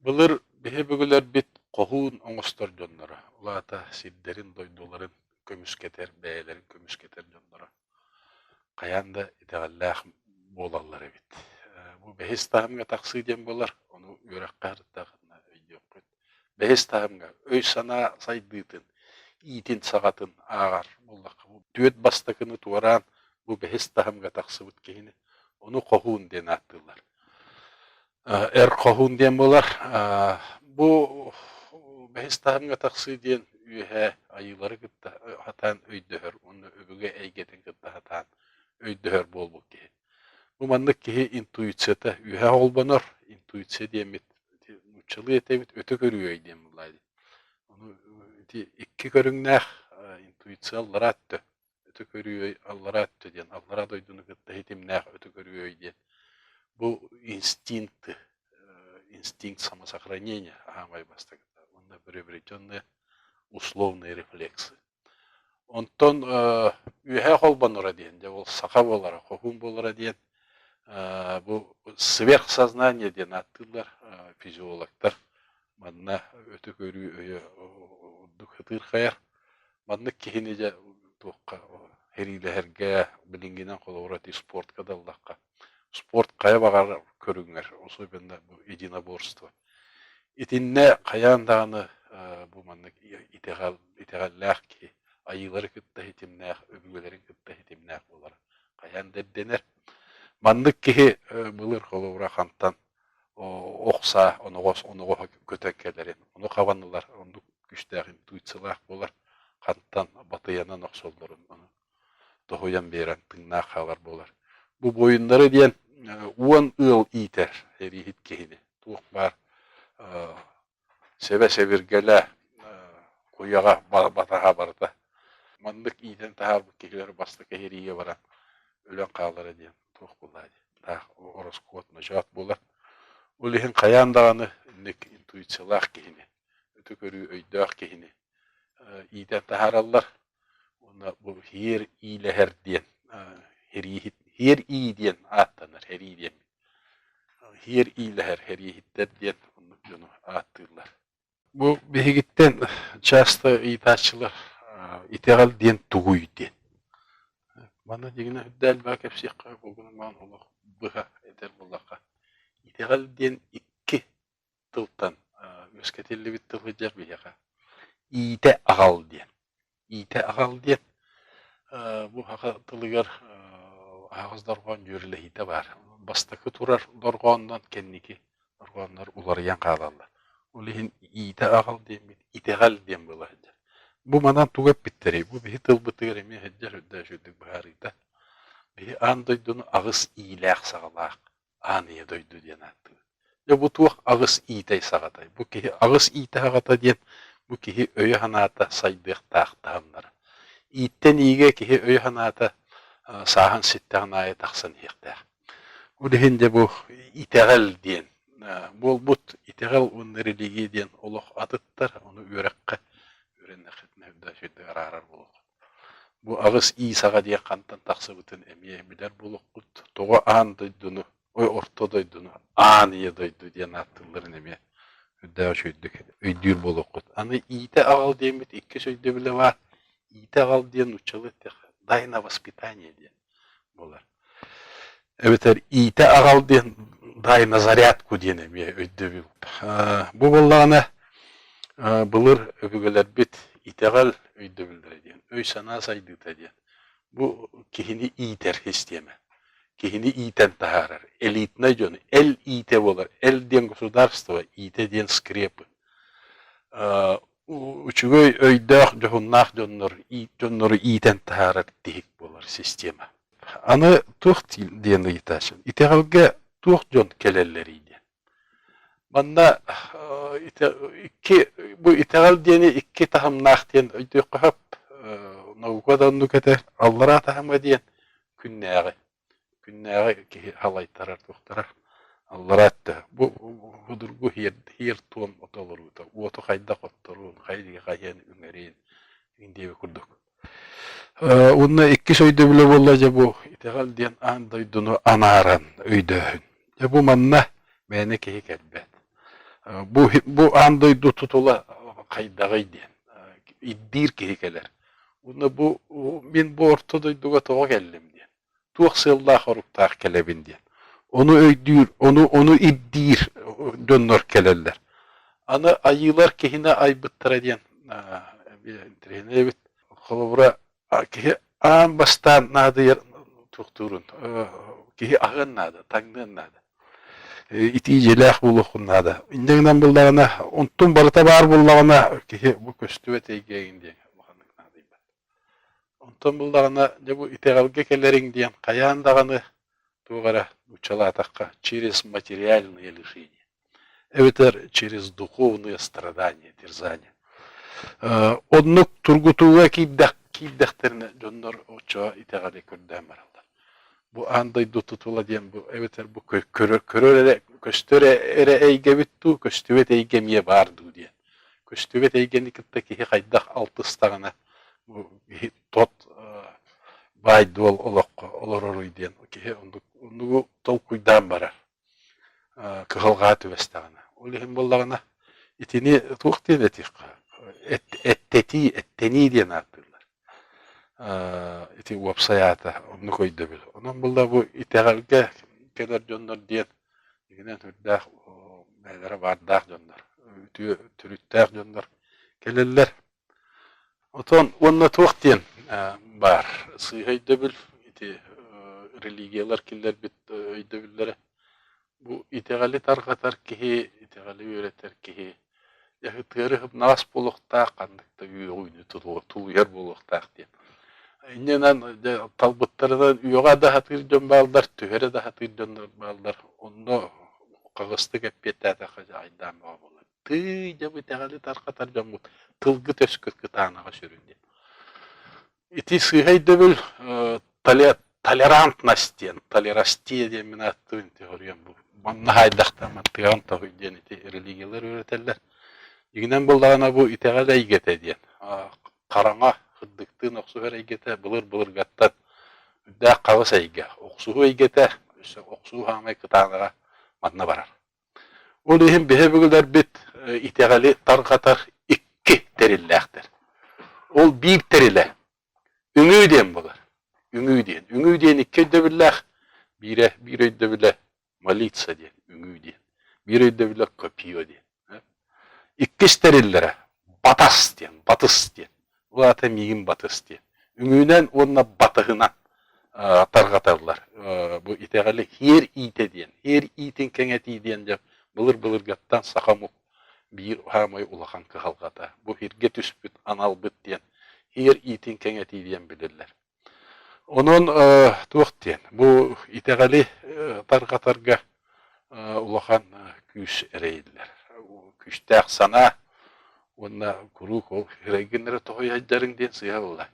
Былыр биһи бүгүлэрбит хоһуун оҥостор дьонноро, ол аата сирдэрин-дойдуларын көмүскэтэр, бэйэлэрин көмүскэтэр дьонноро хайаан да итэҕэллээх буолаллар эбит. Э, бу бэһис таһымҥа тахсыы диэн буолар, ону үөрэххэ харыстаахытына өйдүөххүт. Бэһис таһымҥа өй-санаа сайдыытын, иитин саҕатын ааҕар буоллахха, бу түөрт бастакыны туораан бу бэһис таһымҥа тахсыбыт киһини, ону хоһуун диэн ааттыыллар. Эр хоһуун диэн буолар. Бу бэһис таһымҥа тахсыы диэн үөһээ айыылары кытта сатаан өйдөһөр уонна өбүгэ эйгэтин кытта сатаан өйдөһөр буолбут киһи. Бу маннык киһи интуицията үөһэ холбонор. Интуиция диэммит нууччалыы этэбит, өтө көрүөй диэн буолла дии. Ону ити икки көрүҥнээх интуиция аллараа өттө. Ытык Өрүөй Аллараа өттө диэн Аллараа дойдуну кытта ситимнээх Ытык Өрүөй диэн бу инстинкт инстинкт самосохранения аамай бастакыта уонна приобретенные условные рефлексы онтон үөһээ холбонура диэн дьэ ол саха буолара хоһуун буолара диэн бу сверхсознание диэн ааттыыллар физиологтар манна өтү көрүү өйө ордук хытыырхайар Маннык киһини дьэ туохха ириилэһэргэ билиҥҥинэн холобура этии спортка да ыллахха спорт хайа баҕарар көрүҥэр особенно бу единоборство итиннэ хайаан даҕаны бу маннык итэҕэл итэҕэллээх киһи айыылары кытта ситимнээх өбүгэлэрин кытта ситимнээх буолара хайаан да ирдэнэр маннык киһи былыр холобура хантан охса оноҕос оноҕоһо көтөн кэлэрин ону хабан ылар оннук күүстээх интуициялаах буолар хантан батыйанан охсоллорун ону тоһуйан биэрэн тыыннаах хаалар буолар бу буойуннары диэн уон ыал иитэр эрииһит киһини туох баар Сибэ-сэбиргэлэ, куйаҕа батаһа барыта маннык иитэн таһаарбыт киһилэр бастакы иһирийэ баран өлөн хаалара диэн туох буолаарай таах ороскуот ночоот буолар. Ол иһин хайаан даҕаны инник интуициялаах киһини, өтө көрүү өйдөөх киһини иитэн таһаараллар уонна бу «Иһиэр иилэһэр» диэн иһирии диэн ааттанар, иһирии диэммит. иһэр иилэһэр хэриэһиттэр диэн оннук дьону ааттыыллар. Бу биһигиттэн часто ыйытааччылар итэҕэл диэн тугуй диэн. Манна дьиҥинэ үрдэ элбэҕи кэпсиэххэ, бу гынан олох быһа этэр буоллахха, итэҕэл диэн икки тылтан үөскэтиллибит тыл сылдьар биһиэхэ иитэ аҕал диэн. Иитэ аҕал диэн бу саха тылыгар аһаҕас дорҕоон дьүөрэлэһиитэ баар. Бастакы турар дорҕооннон кэнники дорҕооннор уларыйан хаалаллар. Ол иһин иитэ аҕал диэммит итэҕэл диэн буола сылдьар. Бу манан тугу эппиттэрий? Бу биһи тылбытыгар эмиэ сылдьар үрдээш үрдүк быһаарыыта. Биһи аан дойдуну аҕыс иилээх-саҕалаах Аан ийэ дойду диэн ааттыыбыт. Дьэ бу туох аҕыс иитэй саҕатай? Бу киһи аҕыс иитэ саҕата диэн бу киһи өйө-санаата сайдыахтаах таһымнара. Ииттэн иигэ киһи өйө-санаата а, сааһын ситтэҕин аайы тахсан иһиэхтээх. Ол иһин дьэ бу итэҕэл диэн а, буолбут. Итэҕэл уонна религия диэн олох атыттар, ону үөрэххэ, үөрэннэххитинэ да араарар буолуоххут. Бу аҕыс ии саҕа диэх хантан тахсыбытын эмиэ билэр буолуоххут. Тоҕо аан дойдуну, ой орто дойдуну аан ийэ дойду диэн ааттыылларын эмиэ үрдээҕи үчүгэйдик өйдүүр буолуоххут. Аны иитэ аҕал диэммит иккис өйдөбүлэ баар. Иитэ аҕал диэн нууччалыы эттэххэ дай на воспитание диэн. эбэтэр иитэ аҕал диэн дай на зарядку диэн эмиэ өйдөбүл бу буоллаҕына былыр өбүгэлэрбит итэҕэл өйдөбүллэрэ диэн өй санаа сайдыыта диэн бу киһини иитэр систиэмэ киһини иитэн таһаарар элитнай дьон эл иитэ буолар эл диэн государство иитэ диэн скрепы Үчүгэй өйдөөх, дьоһуннаах дьоннор дьоннору иитэн таһаарар тиһик буолар система. Аны туох диэн ыйытаачым? Итэҕэлгэ туох дьон кэлэллэрий диэн. Манна икки бу итэҕэл диэни икки таһымнаах диэн өйдүөххэ сөп. Наука да оннукэтэ, аллараа таһыма диэн күннээҕи. Күннээҕи киһи халайтарар туохтара аллараа өттө бу будургу хиэр туом ото олоруута уоту хайдах отторуун хайдыгы хайыан үҥэриин иҥ диэби курдук э, уонна иккис өйдөбүлэ буолла дьэ бу итэҕэл диэн аан дойдуну анааран өйдөөһүн Дьэ бу манна мээнэ киһи кэлбэт. Бу, бу аан дойду тутула хайдаҕый диэн ирдиир киһи кэлэр. Уонна бу мин бу орто дойдуга тоҕо кэллим диэн, туох сыаллаах-соруктаах кэлэбин диэн. Ону өйдүүр, ону, ону ирдиир дьоннор кэлэллэр. Аны айыылар киһини айбыттара диэн интэриэһинэй эбит. Холобура, Киһи аан бастаан наадыйар туохтуурун киһи аһыан наада, таҥныан наада. Итии дьиэлээх буолуоххун наада. Инньэ гынан буллаҕына, онтун барыта баар буллаҕына, киһи бу көстүбэт эйгээгин диэн улаханнык наадыйбат. Онтон буллаҕына, дьэ бу итэҕэлгэ кэлэриҥ диэн хайаан даҕаны туох эрэ нууччалаатахха через материальные лишения. эбэтэр через духовные страдания терзания оннук тургутууга киирдэх киирдэхтэринэ дьоннор оччоҕо итэҕэли көрдөөн бараллар бу аан дойду тутула диэн бу эбэтэр бу көрөр эрэ көстөр эрэ эйгэбит дуу көстүбэт эйгэ эмиэ баар дуу диэн көстүбэт эйгэни кытта киһи хайдах алтыстаҕына бу киһи тот баайдуол олоххо олороруй диэн киһи оннук толкуйдаан барар кыһалҕаа түбэстэҕинэ ол иһин буоллаҕына итини туох диэн этиэххэ эттэтии эттэнии диэн ааттыыллар ити уопсай аата оннук өйдөбүл онон буолла бу итэҕэлгэ кэлэр дьоннор диэн игинэн сүрдээх бэйэлэрэ баардаах дьоннор үтүө төрүттээх дьоннор кэлэллэр Отон уонна туох диэн баар сыыһа өйдөбүл ити религиялар киллэрбит өйдөбүллэрэ бу итэҕэли тарҕатар киһи итэҕэли үөрэтэр киһи ыһыктыгас буолуохтаах ханнык да үөҕүүнү тулуйар буолуохтаах диэн иннинэн талбыттарынан үөҕэ да сатыыр дьон бааллар түһэрэ да сатыыр дьоннор бааллар онно хаҕыстык эппиэттээтэххэ дьаҕайдаан бөҕө буолар Тыый, дьэ бу итэҕэли тарҕатар дьоммут тылгы төскүт кытаанаҕа сүрүн диэн. Ити сыыһа өйдөбүл э, толе- толерантность диэн, толерастия диэн мин ааттыыбын теориям бу. Манна хайдахтан маттыаҕын тоһуй диэн ити религиялар үөрэтэллэр. Дьиҥинэн буоллаҕына бу итэҕэл эйгэтэ диэн. А, хараҥа, хырдыктыын охсуһар эйгэтэ, былыр-былыргаттан үрдээх хаҕыс эйгэ. Охсуһуу эйгэтэ, өссө охсуу хаамай кытаанаҕа манна барар. Ол иһин биһи өбүгэлэрбит итэҕэли тарҕатар икки тэриллээхтэр. Ол биир тэрилэ үҥүү диэн буолар. Үҥүү диэн. Үҥүү диэн икки өйдөбүллээх. Биирэ биир өйдөбүлэ молиться диэн, үҥүү диэн. Биир өйдөбүлэ копио диэн. Иккис тэриллэрэ батас диэн, батыс диэн. Улаата миигин батыс диэн. Үҥүүнэн уонна батыһынан тарҕаталлар. Бу итэҕэли һиэр иитэ диэн, һиэр иитин кэҥэтии диэн дьэ былыр-былыргаттан саха омук биир саамай улахан кыһалҕата. Бу һиргэ түспүт аналбыт диэн һиэр иитин кэҥэтии диэн билиллэр. Онон туох диэн, бу итэҕэли тарҕатарга улахан күүс эрэйиллэр. Күүстээх санаа уонна куруук ол эрэйгиннэрэ тоҕо иһэрдириҥ диэн сыыһа буолла.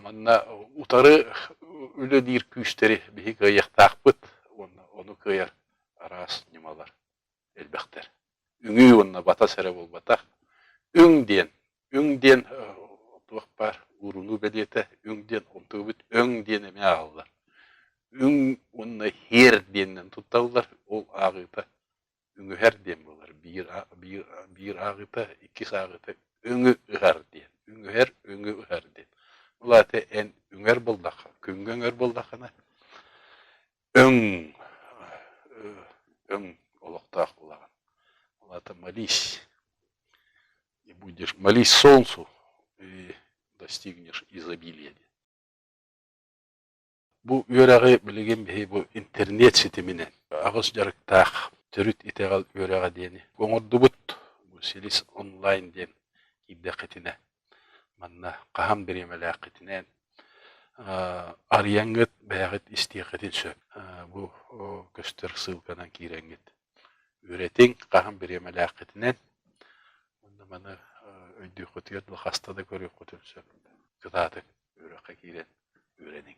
Манна утары үлэлиир күүстэри биһиги кыайыахтаахпыт уонна ону кыайар араас ньымалар. элбэхтэр. Үҥүү уонна батас эрэ буолбатах. Үҥ диэн, үҥ диэн туох баар уурунуу бэлиэтэ, үҥ диэн умтубут, өҥ диэн эмиэ ааҕыллар. Үҥ уонна һиэр диэнинэн тутталлар, ол ааҕыыта үҥүһэр диэн буолар. Биир, биир, биир ааҕыыта, иккис ааҕыыта үҥү ыһар диэн. Үҥүһэр, үҥү ыһар диэн. Ол аата эн үҥэр буоллахха, күҥҥэ үҥэр буоллаххына, өҥ өҥ олохтоох булаҕын улаатан молись и будешь молись солнцу и достигнешь изобилия диэн бу үөрэҕи билигин биһи бу интернет ситиминэн аҕыс дьарыктаах төрүт итэҕэл үөрэҕэ диэни оҥордубут бу силис онлайн диэн киирдэххитинэ Манна хаһан бириэмэлээххитинээн арыйаҥҥыт бэйэҕит истиэххитин сөп. Бу көстөр ссылканан киирэҥҥит үөрэтиҥ хаһан бириэмэлээххитинэн. Уонна маны өйдüөххүтүгэр да хаста да көрүөххүтүн сөп. Кытаатык үөрэххэ киирэн үөрэниҥ.